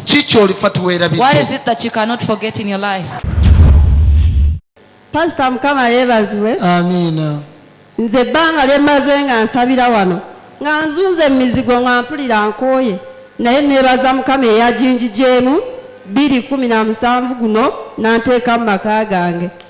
kiki olifa tewerabipasita mukama yebaziwe amiina nze ebbanga lyemaze nga nsabira wano nga nzunze emizigo nga mpulira nkooye naye nebaza mukama eyajinjijeemu 217 guno nanteeka mu maka gange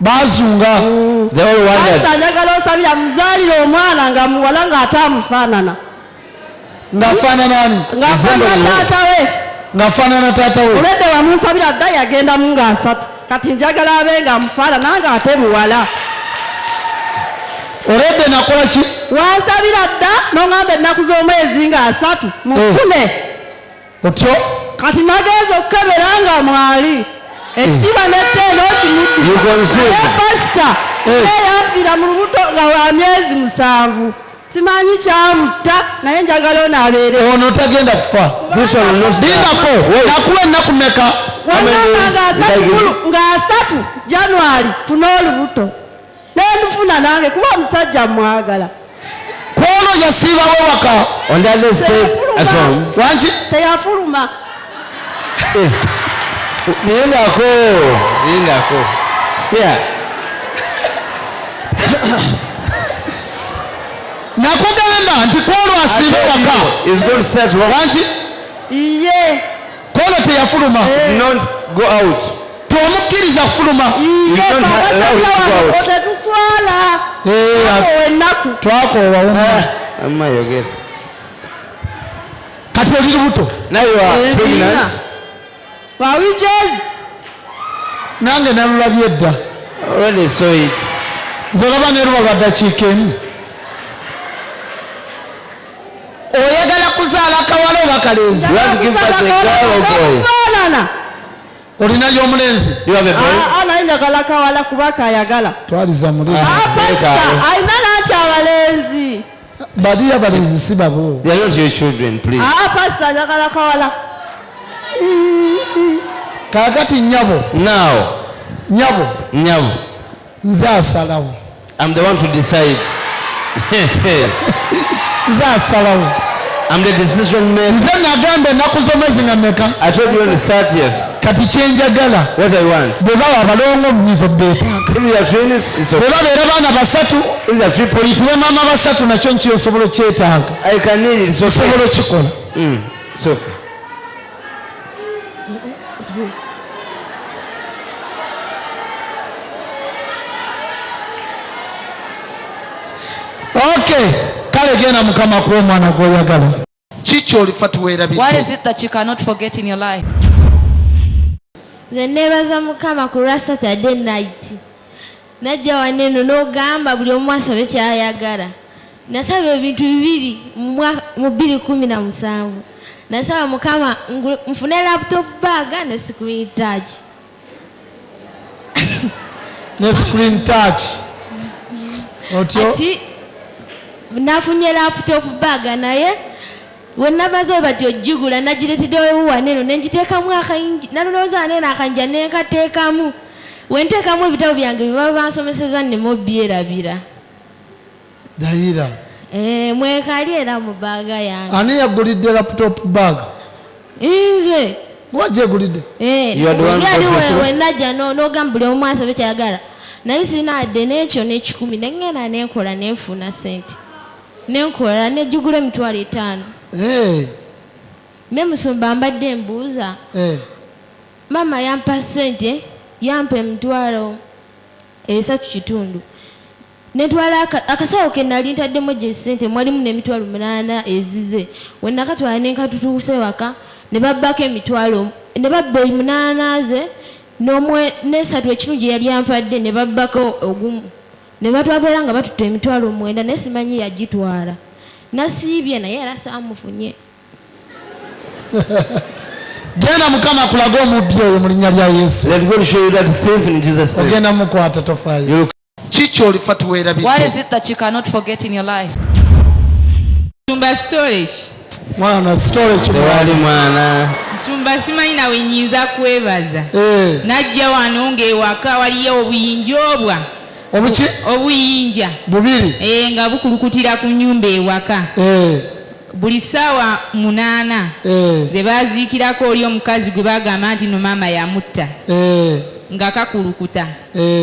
bazunga pasita njagala osabira muzaalire omwana nga muwala ng'ate amufaanana ng'afaananani ng'afaanana taata we ng'afaanana taata we olwedde wamunsabira dda yagendamu ng'asatu kati njagala abe nga amufaanana ng'ate muwala olwedde nakola ki wansabira dda n'oŋamba ennaku z'omwezi ng'asatu mufune eh. otyo kati nagenza okukebera nga mwali ekitiibwa hmm. nettendo kimudduaye pasita eh. eyanfiira mu lubuto nga wa myezi musanvu simanyi kyamutta naye njagala ono abeere ono tagenda kufa lindako nakuwa ennaku meka wamama nga asatu january funa olubuto nemufuna nange kuba omusajja mwagala kwono yasiibawo waka wangi teyafuluma eh. lindako lindako nakugamba nti kwolwasiiba waka wangi iye Pawulo teyafuluma. Not go out. Tomukkiriza kufuluma. Tetuswala. Twakoowa wumma. Amma yogera. Kati oli lubuto. Naye wa pregnant. Wa witches. Nange nalulabye dda. Already saw it. Nze olaba ne luba lwa ddakiika emu. oyagala kuzaala kawala oba kalenzi faanana olina yomulenzi ah, ah, naye njagala kawala kuba kayagala twaliza mulina ah, alina naki abalenzi baliyo abalenzi si babo pasita njagala kawala kakati nyabo nyabo nyabo nze asalawo I'm the one to decide. nze asalawo I'm the decision maker. nze nagamba ennaku z'omwezi nga meka I told you on the 30th kati kyenjagala what I want. bwe bawa abalongo omunyizo beetaaga If you are twins, it's bwe okay. babeera baana basatu If you are triple, oyitire maama basatu nakyo nkiyo osobola okyetaaga I can need it. It's okay. osobola okikola Mm, it's okay. Okay, kale genda mukama kuwa omwana gwoyagala. Kiki olifa tuweerabye? What is it that you cannot forget in your life? Nze neebaza mukama ku lwa Saturday night. Najja wano eno n'ogamba buli omu asabe ky'ayagala. Nasaba ebintu bibiri mu bbiri kkumi na musanvu. Nasaba Mukama nfune laptop bag ne screen touch. Ne screen touch. Otyo? Ati nafunye laptop bag naye we namaze bati ojjigula nagiretedewo wano eno ne ngiteekamu akayingi nalowooza wano eno akayinja ne nkateekamu. Bwe nteekamu ebitabo byange bye baba bansomeseza nneme obyerabira. Dayira. Eh, mwekali era mu baaga yange. Ani yagulidde laptop bag? Nze. Gwajegulidde? Eh, yali wewe najja n'ogamba buli omu asabe kyayagala. Nali sirina adde n'ekyo n'ekikumi ne ngenda neekola neefuna sente. Nenkola nejjugula emitwalo etaano. Eh. Ne musumba mbadde mbuuza. Eh. Maama yampa ssente, yampa emitwalo esatu kitundu netwala akasawo ke nali ntaddemu egyo esente mwalimu n'emitwalo munaana ezize we nakatwala ne nkatutuusa ewaka ne babbako emitwalo ne babba munaana ze n'esatu ekimu gye yali ampadde ne babbako ogumu ne batwabeera nga batutte emitwalo omwenda naye simanyi yagitwala nasiibye naye era saamufunye genda mukama kulage omubbi oyo mu linnya lya yesu ogenda mukwata tofaayo kiki olifa tuweerabimwana storewali mwana nsumba simanyi nawe nyinza kwebaza eh. najja wano ngaewaka waliyo obuyinja obwa obuki obuyinja bubiri eh, nga bukulukutira ku nyumba ewaka eh. Buli ssaawa munaana ze baaziikirako oli omukazi gwe bagamba nti nno maama yamutta nga kakulukuta.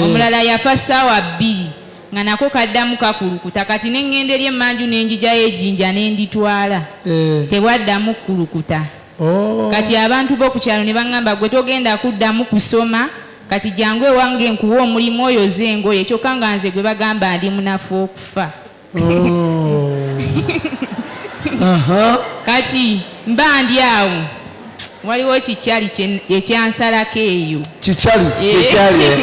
Omulala yafa ssaawa bbiri nga nako kaddamu kakulukuta kati ne ŋŋenda eri emmanju ne njijayo ejjinja ne nditwala tebwaddamu kukulukuta. Kati abantu bo ku kyalo ne bangamba gwe togenda kuddamu kusoma kati jangu ewange nkuwe omulimu oyoze engoye kyokka nga nze gwe bagamba ndi munafu okufa. oh. kati mba ndi awo waliwo kikyali ekyansalako eyo kikyali eh.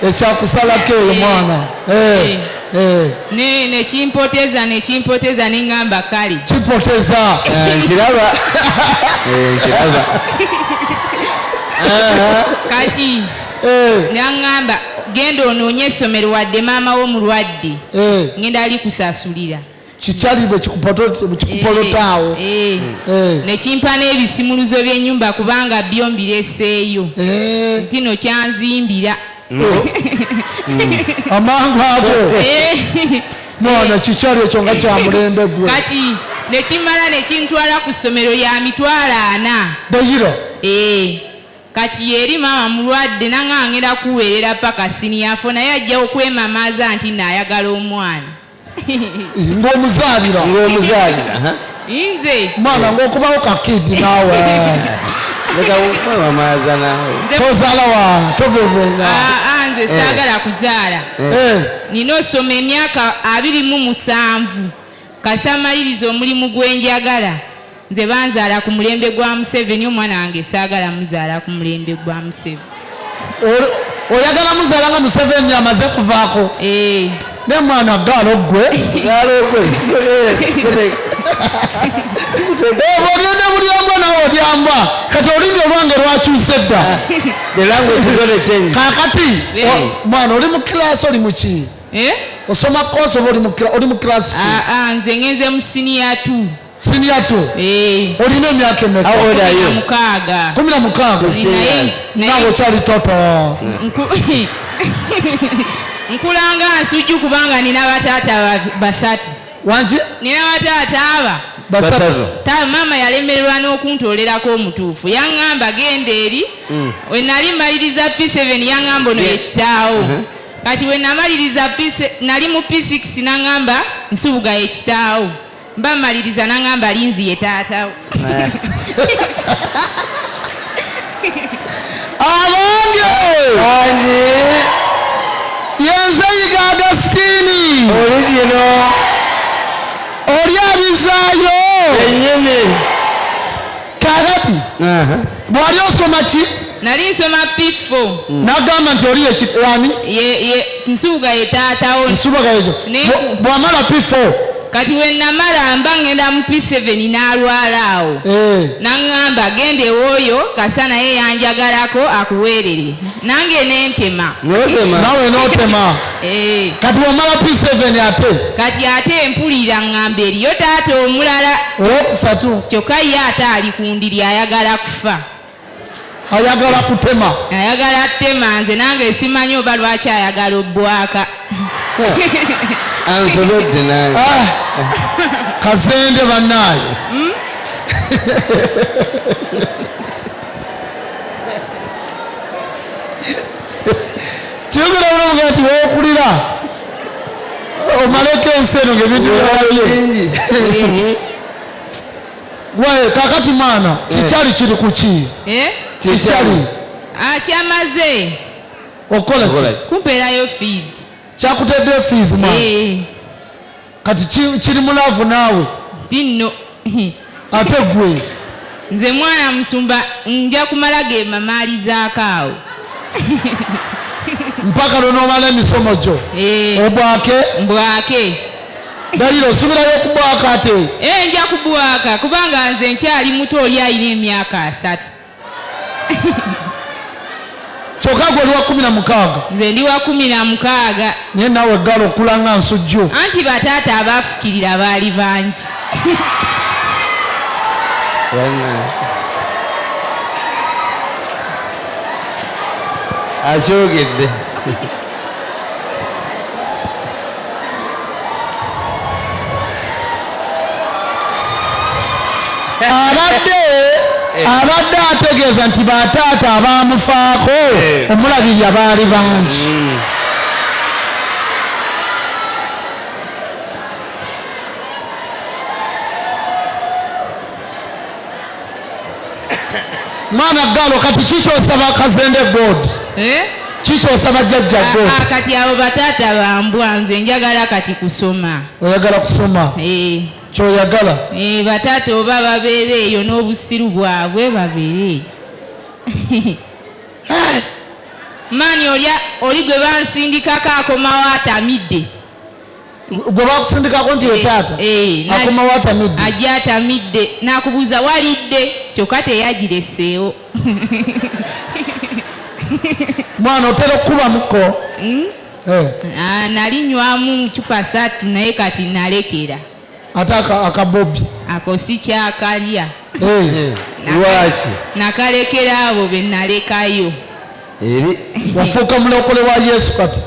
ekyakusalako eyo mwana eh. Eh. ne nekimpoteza nekimpoteza neŋamba kale kipoteza eh, nkiraba eh, nkiraba kati naŋamba genda onoonye essomero wadde maama wo mulwadde eh. ngenda ali kusasulira kikyali bwekikupolotaawo eh, eh. nekimpa n'ebisimuluzo by'enyumba kubanga byo mbireseeyo ntino kyanzimbira mm. mm. amangu ago mwana kikyali ekyo nga kyamulembe gwe kati nekimala nekintwala ku ssomero ya mitwalo ana dayiro Kati yeri maama mulwadde nange angenda kuwerera paka senior four naye ajja okwemamaaza nti no ayagala omwana. Ng'omuzaalira. Ng'omuzaalira. Inze. Mwana ng'okubawo ka kid naawe. Leka okwemamaaza naawe. Tozaala wa tovevenga. Ah, ah, nze saagala eh. kuzaala. Eh. Nina osoma emyaka abiri mu musanvu. Kasamaliriza omulimu gwenjagala. Nze banzaala ku mulembe gwa Museveni omwana wange saagala muzaala ku mulembe gwa Museveni. Oyagala muzaala nga Museveni amaze kuvaako? Ee. Eh. Ne mwana gaalo ggwe. Gaalo ggwe. Ebyo byonna buli omu nawe obyamba kati olulimi olwange lwakyuse dda. Kaakati mwana oli mu kilaasi oli mu ki? Eh? Osoma koosi oba oli mu kilaasi ki? Ah, ah, nze ngenze mu siniya tu. Senior two. Eh. Olina emyaka emeka? How old are you? Mukaaga. Kumi na mukaaga. Nawe okyali toto. Nkulanga nsujju kubanga nina bataata basatu. Wangi? Nina bataata aba. Basatu. Ta mama yalemererwa n'okuntolerako omutuufu. Yang'amba genda eri. Mm. We nali maliriza P7 yang'amba ono yekitaawo. Uh-huh. Kati we namaliriza nali mu P6 nang'amba nsubuga yekitaawo. mba mmaliriza nangamba linzi ye taata abange bangi yenze yiga agasitini oli gino oli abizaayo enyini kakati bwali osoma ki nali nsoma piffo hmm. nagamba nti oli yekirani nsubuga ye taatawo nsubuga yezo bwamala piffo kati wenamala mba ngenda mu piseveni n'alwala awo eh. naŋŋamba genda ewooyo kasa naye yanjagalako akuweerere nange nentema nawe notema Eh. kati wamala p7 ate kati ate mpulira ngamba eriyo taata omulala owokusatu kyokka ye ate ali ku ndiri ayagala kufa ayagala kutema ayagala kutema nze nange simanyi oba lwaki ayagala obwaka ansobedde nange ah. kazende bannaayo hmm? kyogera bulungi nti wokulira omaleko ensi eno ngebintu byalabye gwaye kakati mwana eh. kikyali kiri kuki eh? kikyali akyamaze ah, okola kumpeerayo fees kyakutedde fees mwana eh. kati kiri mu laavu naawe dinno ate gwe nze mwana musumba nja kumala ge mamaalizaako awo mpaka lwonomala emisomo gyo eh. obwake mbwake dayiro osubirayo okubwaka ate eh, nja kubwaka kubanga nze nkyali muto oli ayina emyaka asatu kyokka gwe oli wa kumi na mukaaga nze ndi wa kumi na mukaaga naye naawe eggala okula nga nsujju anti bataata abaafukirira baali bangi akyogedde abadde eh. abadde ategeeza nti bataata abaamufaako eh. omulabirira baali bangi hmm. mwana ggalo kati kikyosaba kazende god eh? kikyosaba jjajja ah, god ah, kati abo bataata bambwa nze njagala kati kusoma oyagala kusoma eh. kyoyagala eh, bataata oba babeere eyo n'obusiru bwabwe babeere maani oli gwe bansindikako akomawo atamidde gwe bakusindikako nti etaata eh, eh, akomawo atamidde ajja atamidde nakubuuza walidde kyokka teyagireseewo mwana otera okukubamuko hmm? eh. ah, nali nywamu cupa satu naye kati nalekera ate akabobi ako sikyakalya lwaki nakalekera abo benalekayo wafuuka mulokole wa yesu kati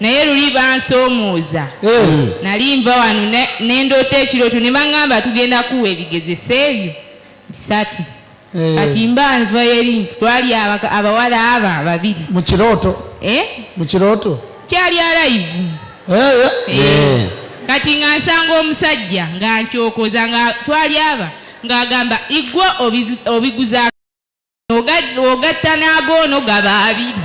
naye luli bansoomuuza nali nva wano nendoota ekirooto ne baŋŋamba tugenda kuwa ebigezesa ebyo bisatu eh. kati mba nva eri twali abawala aba babiri mu kirooto eh? mu kirooto kyali alaivu eh, kati nga nsanga omusajja nga nkyokoza nga twali aba ng'agamba igwa obiguza ogatta n'agoono gaba abiri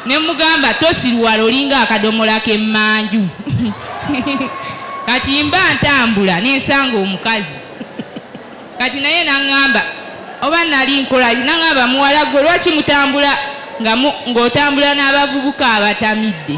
ne mugamba tosiruwala olinga akadomola k'emmanju kati mba ntambula nensanga omukazi kati naye naŋŋamba oba nali nkola naŋŋamba muwala gwe lwaki mutambula ng'otambula n'abavubuka abatamidde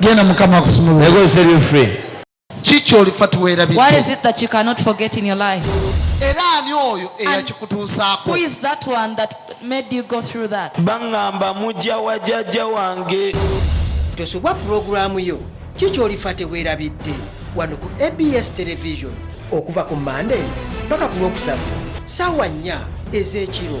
genda mukama akusumulule They go set you free. ki kyolifa What tiweerabidde is it that you cannot forget in your life? era ani oyo eyakikutuusaako Who is that one that made you go through that? baŋŋamba mujja wa jajja wange tosubwa pulogulaamu yo ki kyolifa teweerabidde wano ku abs television okuva ku mande paka ku lwokusatu saawa nnya ez'ekiro